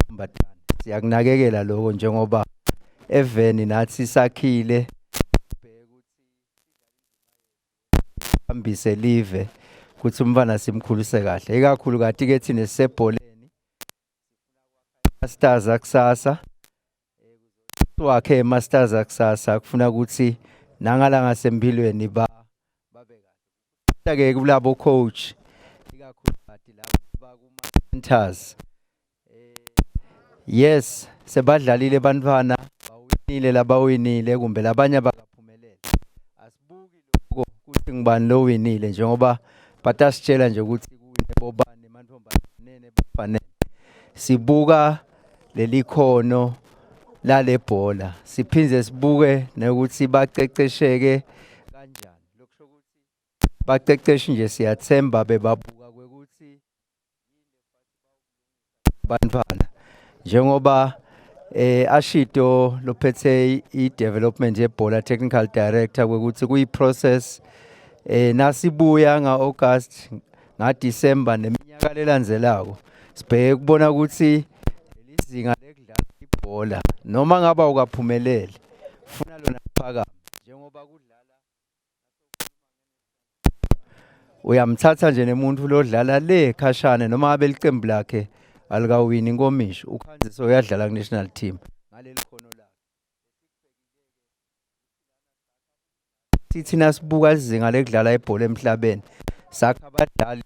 Mbatana siyakunakekela lokho njengoba eveni nathi sakhile hambise live ukuthi umfana simkhulise kahle ikakhulu kati ke thina sisebholeni stars akusasa wakhe masters akusasa kufuna ukuthi nangala ngasempilweni ba babekake kulabo coach ikakhulukazi labo bakuma centers eh, yes sebadlalile bantwana bawinile labawinile kumbe labanye baka Angibuki lokho ukuthi ngubani lo winile njengoba batasitshela nje ukuthi kuwine bobani mantombazane nebafanele. Sibuka leli khono lale bhola siphinde sibuke nokuthi baqeqesheke kanjani. Lokho ukuthi baqeqeshi nje siyathemba bebabuka bantwana njengoba eh ashito lophethe i-development yebhola technical director kwekuthi kuyi-process eh nasibuya nga-August ngaDecember neminyaka lelandzelako sibheke kubona ukuthi lelizinga lekudlala ibhola noma ngaba ukaphumelele funa lona phakama njengoba kudlala uyamthatha nje nemuntu lodlala le khashane noma abe liqembu lakhe alikawini inkomishi ukhanziso uyadlala ku-national team ngaleli khono lakhe sithina sibuka izinga lekudlala ibhola emhlabeni sakha abadlali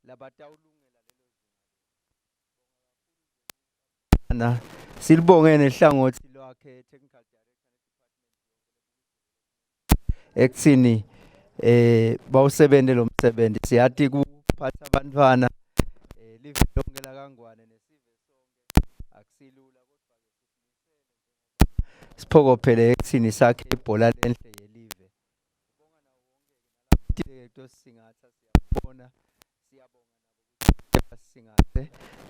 labatawulungela silibongene hlangothi lwakhe technical ekuthini eh bawusebenze lo msebenzi siyathi kuphatha abantwana eh live lonke la kangwane nesive sonke akusilula kodwa siphokophele ekuthini sakhe ibhola lenhle yelive ubonga nawo wonke ke nalapho singatha siyabona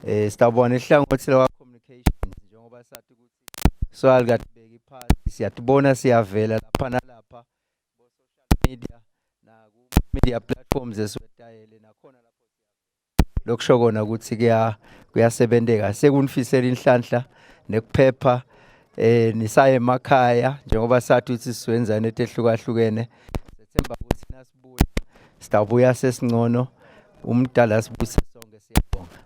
eh sitawubona ihlangothi lawa communications njengoba sathi ukuthi swali kade beki phansi siyatibona siyavela lapha nalapha bo social media na ku media platforms esiwetayele nakhona lapho lokusho kona ukuthi kuya kuyasebenteka sekunifisela inhlanhla nekuphepha eh nisaye emakhaya njengoba sathi ukuthi siwenzane etehlukahlukene sethemba ukuthi nasi Sitawubuya sesingcono umdala sibuse sonke siyabonga.